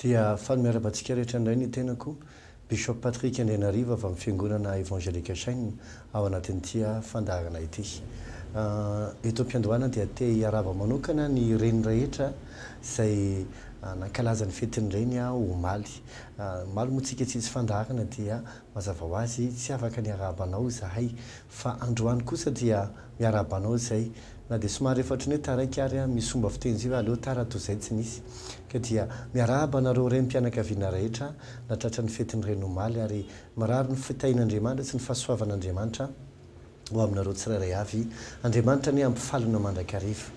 dia faly miarahaba antsika rehetra indray ny tenako Bishop Patrick Andrianariva avy amin'ny fiangonana Evangelical Chaîne ao anatin'ity fandaharana ity. Eto am-piandohana dia te hiarahaba manokana ny reny rehetra izay nankalaza ny fetin'ny reny omaly. Omaly moa tsika tsisy fandaharana dia mazava ho azy tsy afaka ny hiarahaba anao izahay fa androany kosa dia miarahaba anao izay na dia somary efa hatry ny hoe taraiky ary an, misy fomba fiteny izay hoe aleo tara toy izay tsy nisy. Ka dia miarahaba anareo renim-pianakaviana rehetra nahatratra ny fetin'ny reny omaly ary Mirary ny fitahian'Andriamanitra sy ny fahasoavan'Andriamanitra ho aminareo tsirairay avy. Andriamanitra anie hampifaly anao mandrakariva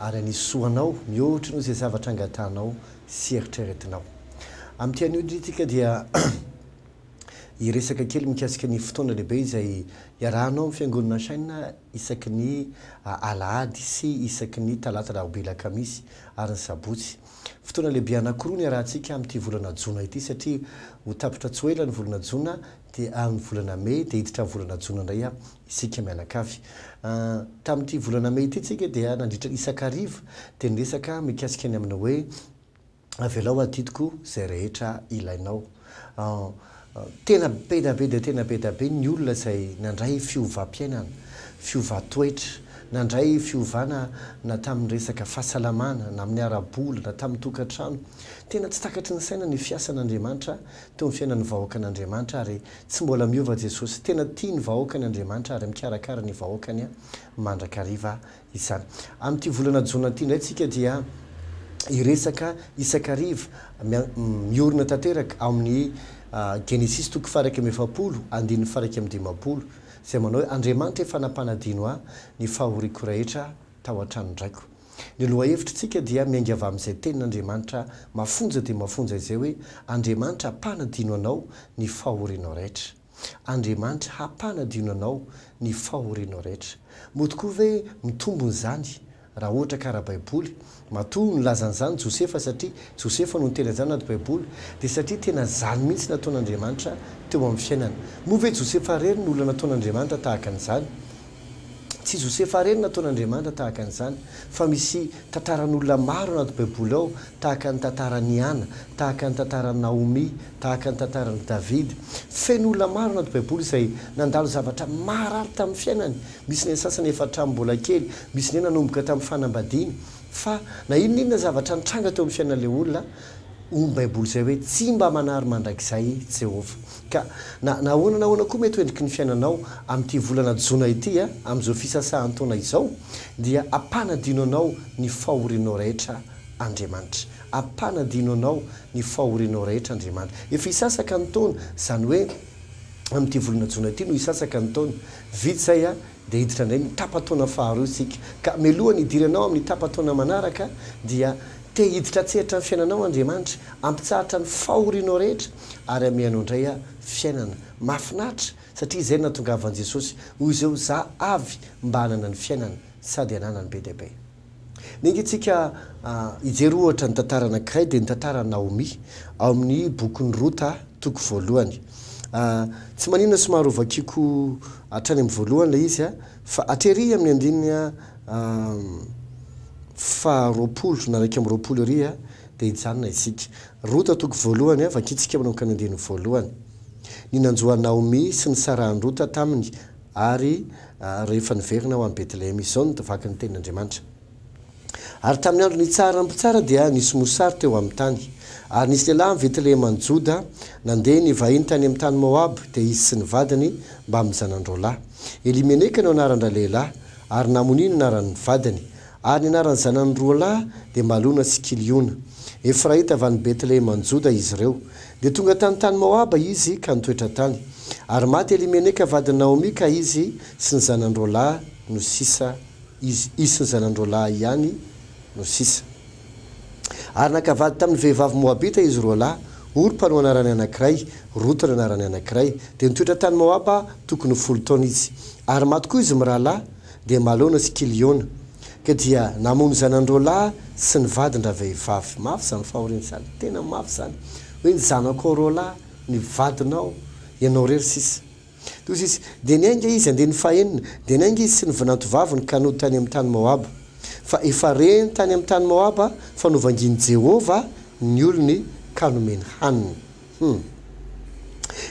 ary hanisy soa anao mihoatra noho izay zavatra angatahanao sy eritreretinao. Amin'ity anio ity isika dia hiresaka kely mikasika ny fotoana lehibe izay iarahanao amin'ny Fiangonana Shine isaky ny alahady sy isaky ny talata rahoby lakamisy ary ny sabotsy. Fotoana lehibe anankiroa no iarahantsika amin'ity volana jona ity satria ho tapitra tsy ho ela ny volana jona dia amin'ny volana mey dia hiditra amin'ny volana jona indray isika mianakavy. Tamin'ity volana mey ity isika dia nandritra isan-kariva dia niresaka mikasika ny amin'ny hoe avelao adidiko izay rehetra ilainao. Tena beda be dia tena beda be ny olona izay nandray fiovam-piainana, fiovan-toetra, nandray fiovana na tamin'ny resaka fahasalamana, na amin'ny ara-bola, na tamin'ny tokantrano. Tena tsy takatry ny saina ny fiasan'Andriamanitra teo amin'ny fiainan'ny vahoakan'Andriamanitra ary tsy mbola miova Jesosy. Tena tia ny vahoakany Andriamanitra ary mikarakara ny vahoakany mandrakariva izany. Amin'ity volana jona ity indray tsika dia hiresaka isak'ariva miorina tanteraka ao amin'ny Genesisy toko faha-iraika amby efapolo andininy faha-iraika amby dimampolo izay manao hoe Andriamanitra efa nampanadino ahy ny fahoriako rehetra tao an-tranon-draiko. Ny lohahevitritsika dia miainga avy amin'izay tenin'Andriamanitra mafonja dia mafonja izay hoe Andriamanitra mpanadino anao ny fahorianao rehetra. Andriamanitra hampanadio nanao ny fahorianao rehetra. Mody koa ve mitombona izany raha ohatra ka ara-baiboly? Matoa nilaza an'izany Josefa satria Josefa no niteny an'izany anaty baiboly dia satria tena izany mihitsy nataon'Andriamanitra teo amin'ny fiainany. Moa ve Josefa irery no olona nataon'Andriamanitra tahaka an'izany? Tsy Josefa irery nataon'Andriamanitra tahaka an'izany, fa misy tantaran'olona maro anaty Baiboly ao, tahaka ny tantaran'i Hana, tahaka ny tantaran'i Naomia, tahaka ny tantaran'i Davida. Feno olona maro anaty Baiboly izay nandalo zavatra maharary tamin'ny fiainany. Misy ny sasany efa hatramin'ny mbola kely, misy indray nanomboka tamin'ny fanambadiany. Fa na inon'inona zavatra nitranga teo amin'ny fiainan'ilay olona, Hoy ny Baiboly izay hoe, Tsy mba manary mandrakizay i Jehovah. Ka na ahoana na ahoana koa mety ho endriky ny fiainanao amin'ity volana jona ity, amin'izao fisasahan-taona izao, dia ampanadino anao ny fahorianao rehetra Andriamanitra. Ampanadino anao ny fahorianao rehetra Andriamanitra. Efa hisasaka ny taona, izany hoe amin'ity volana jona ity no hisasaka ny taona. Vita izay, Dia hiditra indray ny tapa-taona faharoa isika. Ka mialoha ny hidiranao amin'ny tapa-taona manaraka dia te hiditra an-tsehatra ny fiainanao Andriamanitra, hampitsahatra ny fahorianao rehetra ary hamehy anao indray aho fiainana. Mahafinaritra satria izay no nahatongavan'i Jesosy, hoy izao, Za avy mba hanana ny fiainana sady hananany be dia be. Niainga antsika hijery ohatra ny tantara anankiray dia ny tantaran'i Naomy ao amin'ny bokin'i Rota toko voalohany. Tsy maninona somary hovakiko hatrany amin'ny voalohany ilay izy fa atery amin'ny andininy faha roapolo na iraika amby roapolo ery dia hijanona isika. Rota toko voalohany, vakintsika manomboka ny andininy voalohany. Ny nanjo an'i Naomy sy nisarahan'i Rota taminy. Ary rehefa niverina ho any Betlehema izy, izao no vaky ny tenin'Andriamanitra. Ary tamin'ny andro nitsaharan'ny mpitsara dia nisy mosary teo amin'ny tany. Ary nisy lehilahy any Betlehema any Joda, nandeha nivahiny tany amin'ny tany Moaba, dia izy sy ny vadiny mbamin'ny zanany roalahy. Elimeleka no anaran-dralehilahy, ary Namoni no anaran'ny vadiny. Ary ny anaran'ny zanany roa lahy dia Malona sy Kiliona. Efraita avy any Betleheman-Joda izy ireo. Dia tonga tany tany Moaba izy ka nitoetra tany. Ary maty Elimeleka vadin'i Naomy ka izy sy ny zanany roa lahy no sisa izy izy sy ny zanany roa lahy ihany no sisa. Ary naka vady tamin'ny vehivavy Moabita izy roa lahy, Orpa no anarany anankiray, Rota no anarany anankiray. Dia nitoetra tany Moaba tokony ho folo taona izy. Ary maty koa izy mirahalahy. dia Malona sy Kiliona, ka dia namono zanany-roalahy sy ny vadin-dravehivavy. Mafy izany fahoriana izany, tena mafy izany. Hoe ny zanakao roalahy, ny vadinao, ianao irery sisa. Dia hoy izy, dia niainga izy, andininy fahenina, dia niainga izy sy ny vinantovaviny ka nody tany amin'ny tany Moaba. Fa efa reny tany amin'ny tany Moaba, fa novangin'i Jehovah ny olony ka nomeny hanina. Humm.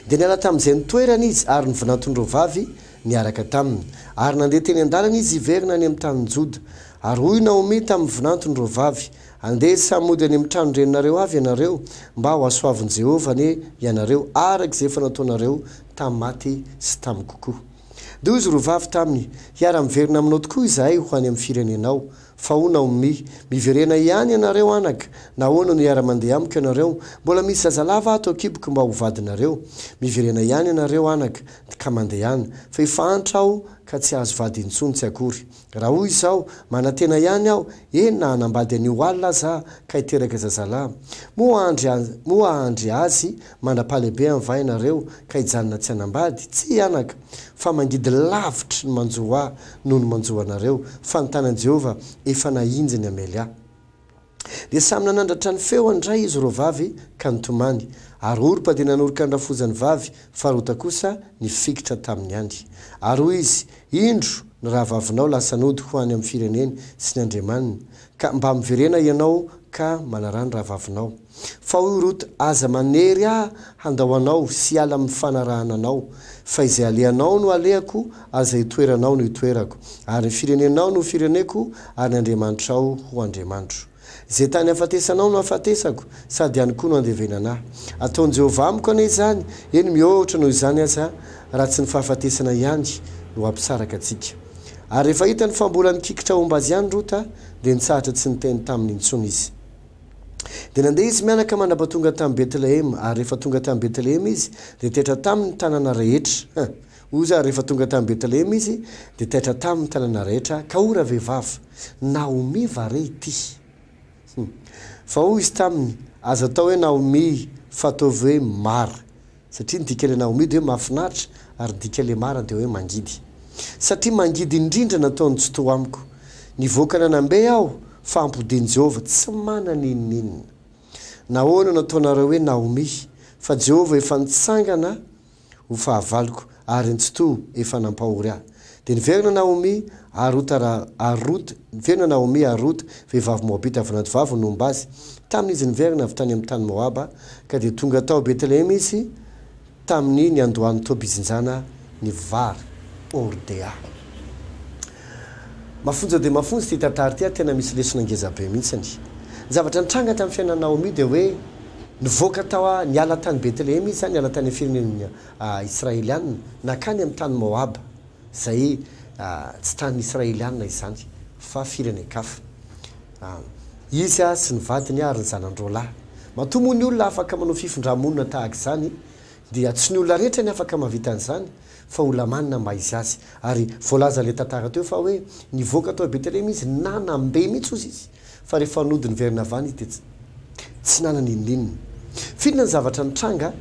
Dia niala tamin'izay ny toerany izy ary ny vinantony roa vavy niaraka taminy. Ary nandeha teny an-dalana izy hiverina any amin'ny tanin'i Joda. Ary hoy Naomy tamin'ny vinantony roa vavy, Andeha samy hody any amin'ny tranon-dreninareo avy ianareo, mba hohasoavin'i Jehovah anie ianareo, araka izay efa nataonareo tamin'ny maty sy tamiko koa. Dia hoy izy roa vavy taminy, Hiara-miverina aminao tokoa izahay ho any amin'ny firenenao. Faou Naomi. Miverena ihany ianareo anaka, nahoana no hiara-mandeha amiko ianareo? Mbola misy zazalava ato an-kiboko mba ho vadinareo. Miverena ihany ianareo anaka, ka mandehana. Fa efa antra aho ka tsy hahazo vady intsony, tsy akory. Raha hoy izao, manantena ihany aho, eny na hanambady anio alina aza aho, ka hiteraka zazalahy. Moa hahandry, moa hahandry azy Mandra-pahalehibe any va ianareo ka hijanona tsy hanambady? Tsia anaka, fa mangidy lavitry ny manjo ahy noho ny manjo anareo, fa ny tanan'i Jehovah efa nahinjy ny hamely ahy. Dia samy nanandratra ny feony indray izy roa vavy ka nitomany, ary Orpa dia nanoroka ny rafozany vavy, fa Rota kosa nifikitra tamin'ny ihany. Ary hoy izy, Indro, ny rahavavinao lasa nody ho any amin'ny fireneny sy ny andriamaniny, ka mba miverena ianao ka manaraha ny rahavavinao. Fa hoy Rota, Aza manery ahy handao anao sy hiala amin'ny fanarahana anao, fa izay alehanao no alehako, ary izay itoeranao no itoerako, ary ny firenenao no ho fireneko, ary ny Andriamanitrao ho Andriamanitro. Izay tany hafatesanao no hafatesako, sady any koa no handevenana ahy. Ataon'i Jehovah amiko anie izany, eny, mihoatra noho izany aza, raha tsy ny fahafatesana ihany no hampisaraka antsika. Ary rehefa hitany fa mbola nikikitra homba azy ihany Rota, dia nitsahatra tsy niteny taminy intsony izy. Dia nandeha izy mianaka mandrapatonga tamin'i Betlehema, ary rehefa tonga tamin'i Betlehema izy, dia taitra taminy ny tanàna rehetra. Ha! Uza ary rehefa tonga tamin'i Betlehema izy, dia taitra taminy ny tanàna rehetra, ka hoy ravehivavy, Naomi va re ity? Hum! Fa hoy izy taminy, Aza atao hoe Naomi, fa ataovy hoe Mara, Satria ny dikan'ilay Naomi dia hoe mahafinaritra ary ny dikan'ilay Mara dia hoe mangidy. Satria mangidy indrindra nataon'i Tsitoha amiko. Nivoaka nanam-be aho fa ampodian'i Jehovah tsy manana inon'inona. Nahoana no ataonareo hoe Naomi? Fa Jehovah efa nitsangana ho fahavaloko ary an'i Tsitoha efa nampahory ahy. Dia niverina Naomy ary Rota ra, ary Rota, niverina Naomy ary Rota, vehivavy Moabita avy anaty vavony, nomba azy, tamin' izy niverina avy tany amin' ny tany Moaba, ka dia tonga tao Betlehema izy tamin' ny niandohan' ny tobijinjana ny vary. Ordea. Mafonja dia mafonja ity tantara ity ary tena misy lesona ngeza be mihitsiny. Ny zavatra nitranga tamin'ny fiainan'i Naomy dia hoe nivoaka tao, niala tany Betlehema izy, niala tany amin'ny firenen'ny. Israelianina nankany amin'ny tany Moaba, izay tsy tany Israelianina izany, fa firenen-kafa. Izy sy ny vadiny ary ny zanan-droalahy. Matoa moa ny olona afaka manao fifindrà-monina tahaka izany, dia tsy ny olona rehetra ny afaka mahavita an'izany, fa ho lamanina mba hisy azy. Ary voalaza ilay tantara teo fa hoe nivoaka tao Betelehema izy, na nambe mihitsy hozy izy, Fa rehefa nody niverina avy any dia tsy nanana inon'inona. F'inona ny zavatra nitranga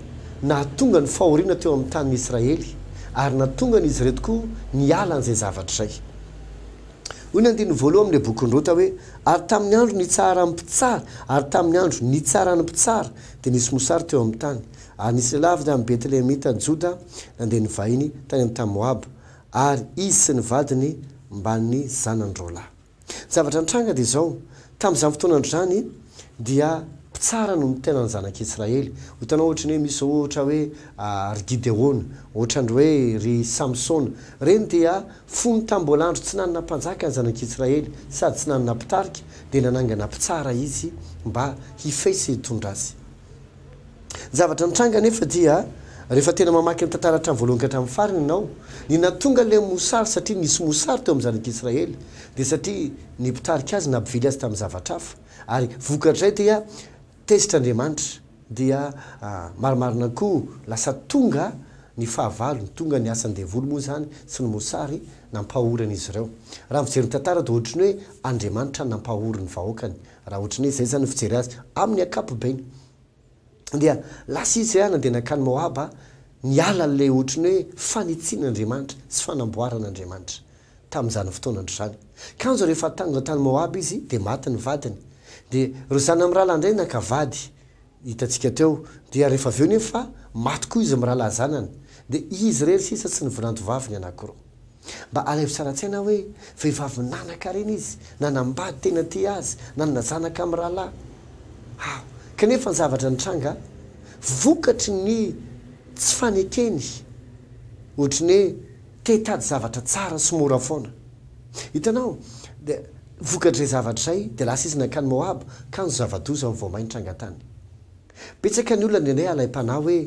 nahatonga ny fahoriana teo amin'ny tanin'ny Israely, ary nahatonga an'izy ireto koa niala an'izay zavatra izay? Hoy ny andininy voaloha amin'ilay bokin'i Rota hoe, Ary tamin'ny andro nitsaharan'ny mpitsara, ary tamin'ny andro nitsaran'ny mpitsara, dia nisy mosary teo amin'ny tany. Ary nisy lehilahy avy tamin'ny Betlehemita any Joda nandeha nivahiny tany amin'ny tany Moaba, ary izy sy ny vadiny mbamin'ny zanany roalahy. Ny zavatra nitranga dia izao, tamin'izany fotoana andro izany dia mpitsara no nitena ny zanak'i Israely. Ho hitanao ohatra ny hoe misy izao ohatra hoe ry Gideona, ohatra ny hoe ry Samsona. Ireny dia fony tamin'ny mbola andro tsy nanana mpanjaka ny zanak'i Israely sady tsy nanana mpitarika dia nanangana mpitsara izy mba hifehy sy hitondra azy. Ny zavatra nitranga anefa dia, rehefa tena mamaky ny tantara hatramin'ny voalohany ka hatramin'ny farany ianao, ny nahatonga ilay mosary satria nisy mosary teo amin'ny zanak'i Israely dia satria ny mpitarika azy nampivily azy tamin'ny zavatra hafa ary vokatr'izay dia tezitra Andriamanitra dia marimarina koa lasa tonga ny fahavalony, tonga ny asan'ny devoly moa izany sy ny mosary nampahory an'izy ireo. Raha mijery ny tantara dia ohatry ny hoe Andriamanitra nampahory ny vahoakany Raha ohatry ny hoe izay izany no fijery azy, amin'ny ankapobeny dia lasa izy ah nandeha nankany Moaba ah, niala an'ilay ohatry ny hoe fanitsian'Andriamanitra sy fanamboaran'Andriamanitra tamin'izany fotoanandro izany. Kanjo rehefa tanga tany Moaba izy dia maty ny vadiny, dia ireo zana-mirahalahy indray naka vady hitantsika hatreo, dia rehefa avy eo nefa fa maty koa izy mirahalahy zanany, dia izy irery sisa sy ny vinanto vaviny anankiroa. Mba alaivo tsara an-tsaina hoe vehivavy nanankarena izy, nanambady tena tia azy, nanana zanaka mirahalahy. Aho. Kanefa ny zavatra nitranga, vokatry ny tsy fanekeny, ohatry ny hoe Te hitady zavatra tsara sy mora foana. Hitanao, dia vokatr'izay zavatra izay, dia lasa izy nankany Moaba, kanjo zava-doza ny voamay nitranga tany. Betsaka ny olona nendrey alaim-panahy hoe,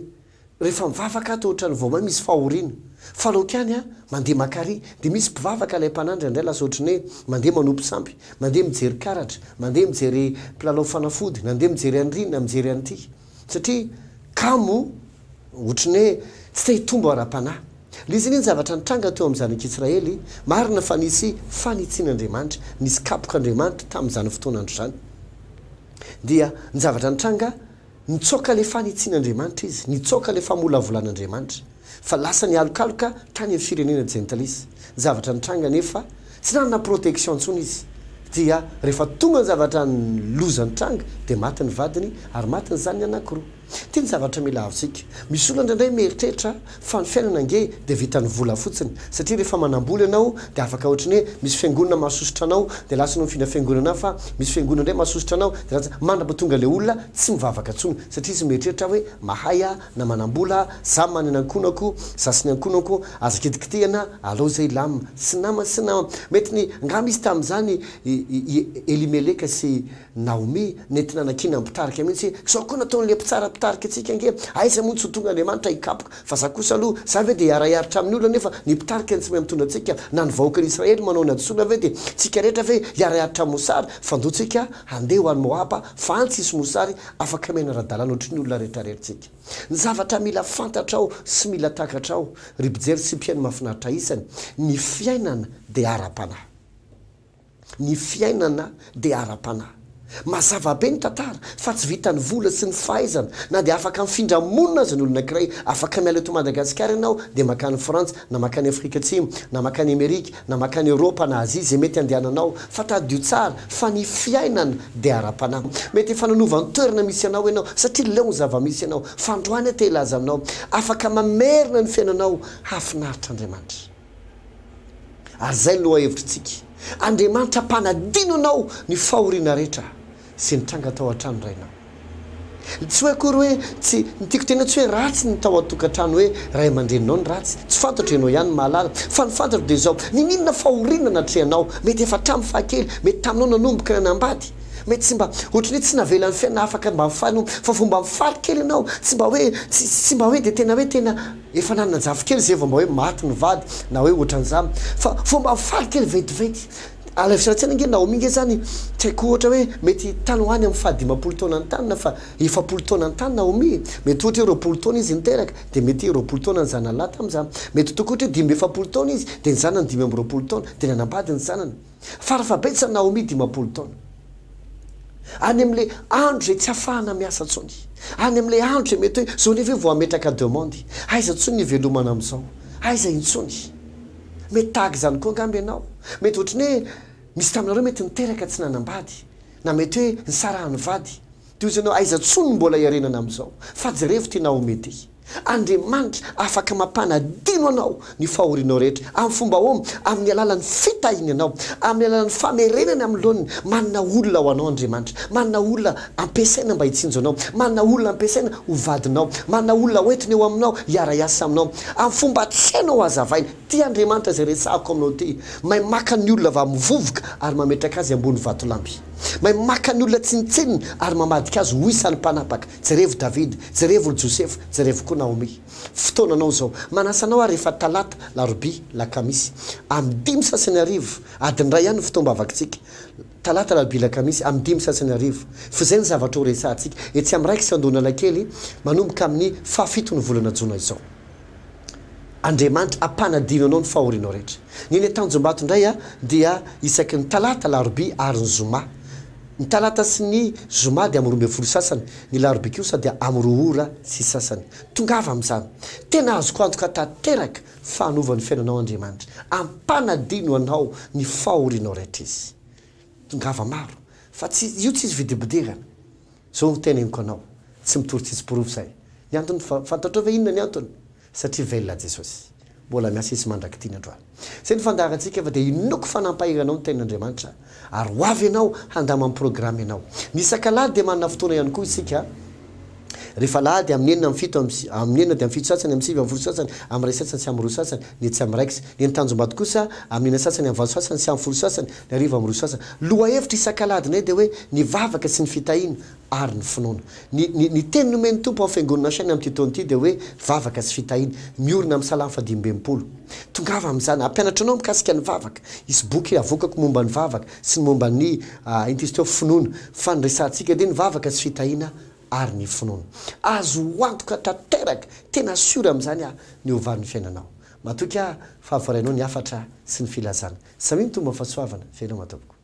Rehefa mivavaka aho, toa ohatran'ny voamay misy fahoriana. Fa aleoko ihany aho mandeha maka àry. Dia misy mpivavaka alaim-panahy indraindray lasa ohatry ny hoe mandeha manopy sampy, mandeha mijery karatra, mandeha mijery mpilalao fanafody, nandeha mijery an'irỳ na mijery an'ity. Satria kamo ohatry ny hoe tsy te hitombo ara-panahy. Nisy anie ny zavatra nitranga teo amin'ny zanak'Israely. Marina fa nisy fanitsian'Andriamanitra, nisy kapok'Andriamanitra tamin'izany fotoana andro izany. Dia ny zavatra nitranga, nitsoaka ilay fanitsian'Andriamanitra izy, nitsoaka ilay famolavolan'Andriamanitra. fa lasa nialokaloka tany amin'ny firenena Gentiles. Ny zavatra nitranga anefa, tsy nanana protection intsony izy, dia rehefa tonga ny zavatra ny loza nitranga, dia maty ny vadiny ary maty ny zanany anankiroa. Ity ny zavatra mila azontsika. Misy olona indraindray mieritreritra fa ny fiainana ange dia vitan'ny vola fotsiny, satria rehefa manambola ianao dia afaka ohatry ny hoe misy fiangonana mahasosotra anao dia lasa ianao mifindra fiangonana hafa, misy fiangonana indray mahasosotra anao dia lasa, mandrapatonga ilay olona tsy mivavaka intsony satria izy mieritreritra hoe mahay aho, na manambola za manana ankonako za sy ny ankonako aza kitikitihana alou zay lam sy nama sy nama mety ny nga misy tamzany i elimeleka sy naomi nentina nakiana mpitarika mintsy zao ko nataonle mpitsara mpitarika tsika nge aiza moa ny tsy ho tonga andriamanitra hikapoka fa za kosa alou za ve de hiarahiaritra aminy olona nefa ny mpitarika ny tsy mahay mitondra tsika na ny vahoakan israely manao ny hadisoana ve de tsika rehetra ve hiarahiaritra amosary fandoa tsika handeha ho any moaba fa any tsisy mosary Afaka miaina ara-dalàna ohatry ny olona rehetra rery tsika. Ny zavatra mila fantatrao sy mila takatrao, ry mpijery sy mpihaino mahafinaritra isany, ny fiainana dia ara-panahy. Ny fiainana dia ara-panahy. Mazava be ny tantara fa tsy vitan'ny vola sy ny fahaizana, na dia afaka mifindra monina aza ny olona ankiray, afaka miala eto Madagasikara ianao dia makany Frantsa, na makany Afrika Atsimo, na makany Amerika, na makany Eoropa na Azia izay mety andehananao fa tadidio tsara fa ny fiainana dia ara-panahy mety efa nanova ny toerana misy anao ianao satria leo ny zava-misy ianao fa androany aho te hilaza aminao afaka mamerina ny fiainanao hahafinaritra Andriamanitra ary izay ny lohahevitro tsika Andriamanitra mpanadino anao ny fahoriana rehetra sy nitranga tao an-trano rainao. Tsy hoe akory hoe tsy, ny tiako teneno tsy hoe ratsy ny tao an-tokantrano hoe ray aman-dreninao ny ratsy, tsy fantatro ianao ihany no mahalala, fa ny fantatro dia izao, niniana fahoriana natrehanao, mety efa hatramin'ny fahakely, mety taminao nanomboka nanambady, mety tsy mba, ohatry ny hoe tsy navelan'ny fiainana afaka mba nifaly, fa vao mba mifaly kely ianao, tsy mba hoe, tsy, tsy mba hoe dia tena hoe tena efa nanana jafy kely izay vao mba hoe maty ny vady na hoe ohatran'izany, fa vao mba mifaly kely ventiventy, Alaivitra an-tsaina ange Naomi ange zany tsy haiko ohatra hoe mety tany ho any amin'ny faha dimampolo taona ny taniny fa efapolo taona ny tany Naomi e! mety ohatra hoe roapolo taona izy niteraka dia mety roapolo taona ny zanany lahy tamin'izany mety tokoa ohatra hoe dimy amby efapolo taona izy dia ny zanany dimy amby roapolo taona dia nanambady ny zanany farafahabetsany Naomi dimampolo taona any amin'ilay andro izay tsy hafahana miasa intsony any amin'ilay andro izay mety hoe izao nefa vao hametraka demande aiza intsony ny hivelomana amin'izao aiza intsony Mety tahaka izany koa angamba ianao. Mety ohatran'ny hoe misy taminareo mety niteraka tsy nanambady, na mety hoe nisarahan'ny vady. Dia hoy ianao, aiza tsoa no mbola iarenana amin'izao? Fa jerevo ity Naomy ity. Andriamanitra afaka mampanadino anao ny fahorianao rehetra. Amin'ny fomba ahoana? Amin'ny alalan'ny fitahiany anao, amin'ny alalan'ny famerenany amin'ny laoniny. Manana olona ho anao Andriamanitra. Manana olona Ampiasaina mba hitsinjo anao. Manana olona ampiasaina ho vadinao. Manana olona hoentiny eo aminao hiara-hiasa aminao. Amin'ny fomba tsy hainao hazavaina. Tia Andriamanitra izay resahako aminao ity. Mahay maka ny olona vamivovoka ary mametraka azy ambony vatolampy. Mahay maka ny olona tsinontsinona ary mamadika azy ho isan'ny mpanapaka. Jerevo Davida. Jerevo ry Josefa. Jerevo koa Naomi. Fotoananao izao. Manasa anao aho rehefa talata, larobia, lakamisy. Amin'ny dimy sasany hariva, adiny iray ihany ny fotoam-bavakitsika. Talata, Alarobia, Alakamisy, amin'ny dimy sy sasany hariva. F'izay ny zavatra ho resahantsika etsy amin'ny Raikitra Andohan'Analakely manomboka amin'ny fahafiton'ny volana jona izao. Andriamanitra hampanadino anao ny fahorianao rehetra. Ny eny Tanjombato indray dia isaky ny talata, alarobia ary ny zoma. Ny talata sy ny zoma dia amin'ny roa ambin'ny folo sy sasany, ny alarobia kosa dia amin'ny roa ora sy sasany. Tongava amin'izany. Tena azoko antoka tanteraka Fa hanova ny fiainanao Andriamanitra. Ampanadino anao ny fahorianao rehetra Izy. Tongava maro. Fa tsy, io tsy izy vidibidirana. Izao no teneniko anao, tsy mitory tsisy porofo izay. Ny antony, fa, fantatrao ve inona ny antony? Satria velona Jesosy. Mbola miasa Izy mandrak'ity ny androany. Izay no fandaharantsika, fa dia inoako fa nampahery anao ny Tenin'Andriamanitra. ary ho avy ianao handama ny programa ianao. Ny isak'alahady dia manana fotoana ihany koa isika, rehefa alahady amin'ny enina amin'ny fito am amin'ny enina dia amin'ny fito sasany amin'ny sivy amin'ny folo sasany amin'ny iray sasany sy amin'ny roa sasany ny etsy amin'ny raikitra ny eny Tanjombato kosa amin'ny enina sasany amin'ny valo sasany sy amin'ny folo sasany ny arivo amin'ny roa sasany lohahevitra isak'alahadinay dia hoe ny vavaka sy ny fitahiana ary ny finoana. Ny, ny, ny teny nomen'ny Tompo ao Fiangonana Shane amin'ity taona ity dia hoe vavaka sy fitahiana. Miorina amin'ny Salamo fahadimiambinifolo. Tongava amin'izany. Hampianatra anao mikasika ny vavaka. Hisy boky avoakako momba ny vavaka sy ny momba ny, ah, inty izy teo, finoana. Fa ny resahantsika dia ny vavaka sy fitahiana ary ny finoana. Azo antoka tanteraka, tena sûr amin'izany aho, ny ho valin'ny fiainanao. Matoky aho fa voarainao ny hafatra sy ny filazana. Samia mitombo amin'ny fahasoavana. Veloma tompoko.